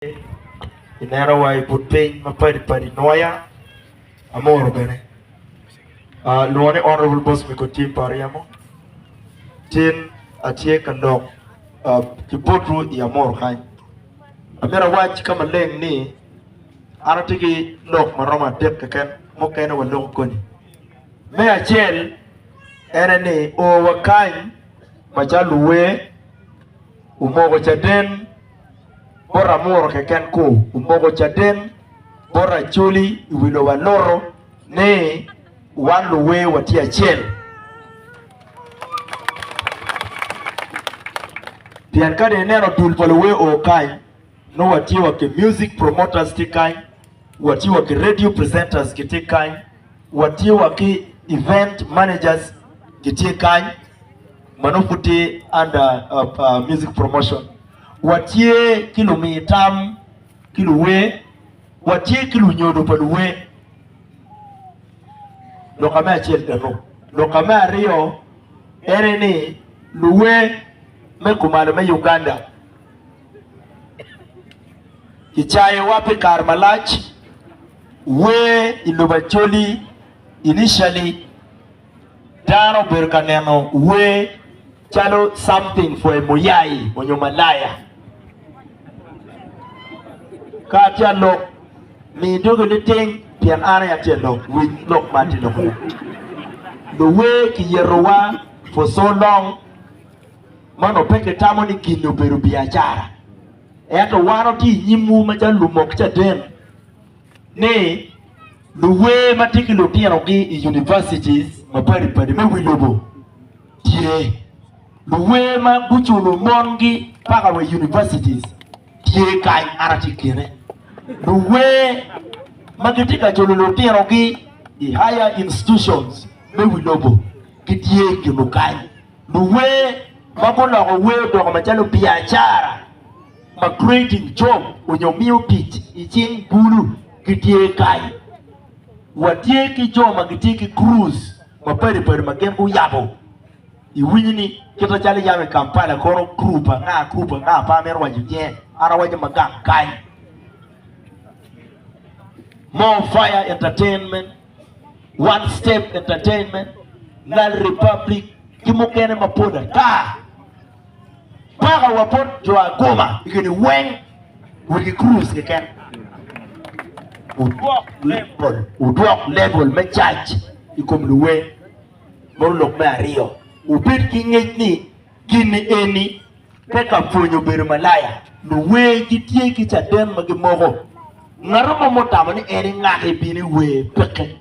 I neno wa I but piny ma padi padi nwoya amoro bene lwongo ni honorable boss me ko tim pa ryemo tin atye ka lok ki bot ru I amoro kany amyero awac ka maleng ni an atye ki lok ma romo adek keken mukene wa loko koni me acel ene ni o wa kany macalo luwer omoko caden bot amuru keken ku omoko caden bot Acholi i wi lobo Alutu ni wan luwer watye acel. Pien ka dong ineno dul pa luwer oo kany, nongo watye wa ki music promoters tye kany, watye wa ki radio presenters gitye kany, watye wa ki event managers gitye kany ma nongo pud tye under uh, uh, music promotion. Watye ki lumiyo tam ki luwer, watye ki lunyodo pa luwer. Loka me acel eno. Loka me aryo ene ni luwer me kumalo me Uganda kicayowa pi kare malac wer i lobo Acholi initially dano obedo ka neno wer Calo something for a muyai onyo malaya. Ka atye alok, mi dogi niting pien an aye atye alok. Wic lok ma atye lokone. Luwer kiyetowa for so long ma nongo pe kitamo ni gin-ni obedo biacara. Ento wan watye i nyimwu macalo lumok caden ni luwer ma tye ki lutinogi i universities mapadi padi me wi lobo, tye luwer ma guculo mongi paka wa i universities tye kany an atye kine luwer ma gitye ka culo lutinogi i higher institutions me wi lobo gitye kinu kany luwer ma guloko wer odoko macalo biacara ma creating job onyo miyo tic i cing bulu gitye kany Watye ki jo ma gitye ki cruise mapadi padi ma gin guyabo. Iwinyo ni kite calo iyabo i Kampala kono group anga group anga pe amito waco nyinge an awaco ma gang kany. More Fire Entertainment, One Step Entertainment, Nile Republic ki mukene mapol ata. Paka wa bot jo aguma i gini weng wot ki cruise keken. Udwok level, udwok level me cac i kom luwe. Moro lok me aryo, ubed ki ngec ni gini eni pe ka pwonyo bedo malaya. Luwe gitye ki caden ma gimoko. Ngato mo mutamo ni en ingaki bini we peke.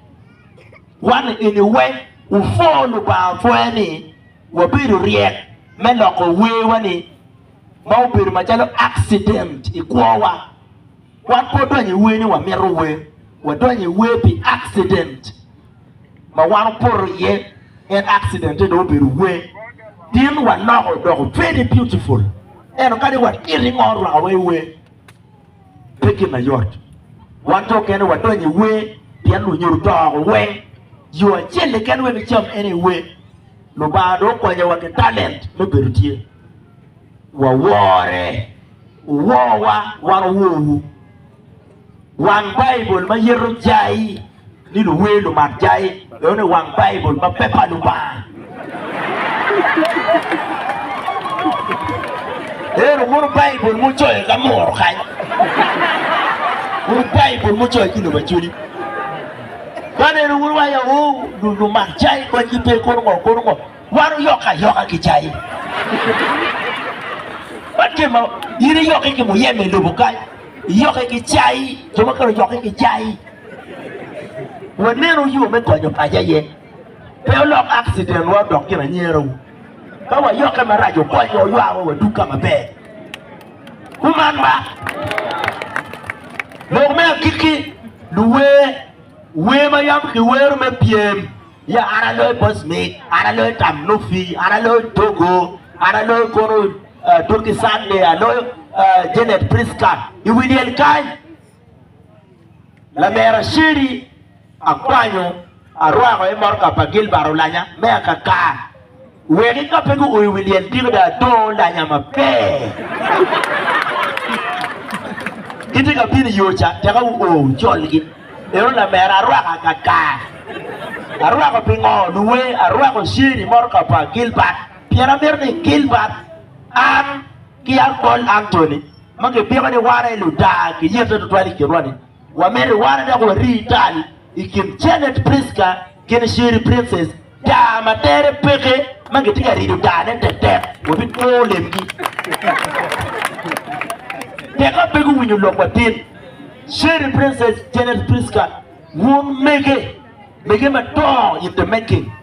Wan i gini weng, ufor lubanga pwoya ni Wabedo ryek me loko werwa-ni ma obedo macalo akcident i kwowa. Wan pe odonyo i wer ni wamito wer, wadonyo i wer pi akcident ma wan opoto iye, en akcident-te dong obedo wer. Tin waloko odoko very beautiful, ento kadi watito ingo orwakawa i wer. pe gin mayot. Wan jo okene wadonyo i wer pien lunyodo to oko weng. Yo acel keken wek icam en aye wer. Lubanga dong okonyowa ki talent me bedo tye. Wawore, wuworwa, wan wuworwu. Wang Baibul ma yeto jai. ni luwer lumak jai eno i wang Baibul ma pe pa Lubanga. Eno mono Baibul mucoyo ka muro kany, mono Baibul mucoyo ki lobo acoli. Man eno mono wa yawo lumak jai konygi pe kono ngo kono ngo. Wan oyok ayoka ki jai. Man kema in iyokke ki muyeme i lobo kany, iyokke ki jai, jo mukene oyokke ki jai. Wanenu yo me konyo paco aye. Pe olok aksidenwa odok gin anyerewu. Ka wayokke marac okonyo oywawa wadug ka maber. Kuman ba. Lok me agikki, luwer wer ma yam kiwero me pyem ya an aloyo Bosmik, an aloyo tam Nufi, an aloyo Togo, an aloyo kono uh, Turki Sande, aloyo uh, Janet Priska i wi lyel kany. Laler Aceri akwanyo arwako i motoka pa Gilbert olanya me akaka wek ka pe guoyo wi lyel tiko dong adong olanya maber. Gitye ka bino i yo ca teka wuo colgi. Ero lamera arwako akaka. Arwako pingo luwe arwako Aceri motoka pa Gilbert pien amito ni Gilbert an Ki yam bol Antony, ma kipiko ni wan aye ludaa kiyete tutwal i kinwa-ni, wamito iwane dok wari tal i kin Janet Prisca ki Nishiri Princess, daa ma tere peke ma gitye ka rido daane tetek, wabikwo lemgi. Teka pe guwinyo lok watin. Sheri Princess, Janet Prisca, wun mege, mege madongo in the making.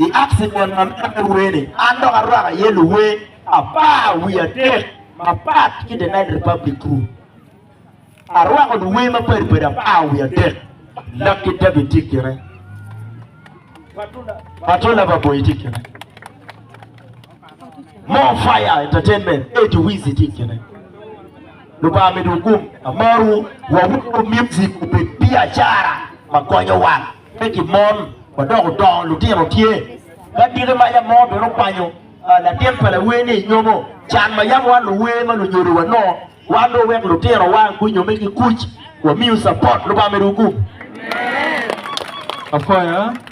I aksi kwon ma myero me wer ni, an dok arwako iye luwer apar wiye adek mapat ki The Nile Republic Crew. Arwako luwer mapadi padi apar wiye adek. Lucky David tye kine. Patola Baboyi tye kine. More Fire Entertainment, Eddie Wizzy tye kine. Lubanga midu gum, amaru, wawuru music obed biacara ma konyo wan. Pe ki mon ma dok odongo lutino tye. Ka diki ma yam mo bene okwanyo latin pa lawer-ni i nyomo, can ma yam wan luwer ma lunyodo wanongo, wan dong wek lutinowa gunyomme ki kuc, wamiu capot. Lubanga medo wugum. Apwaya.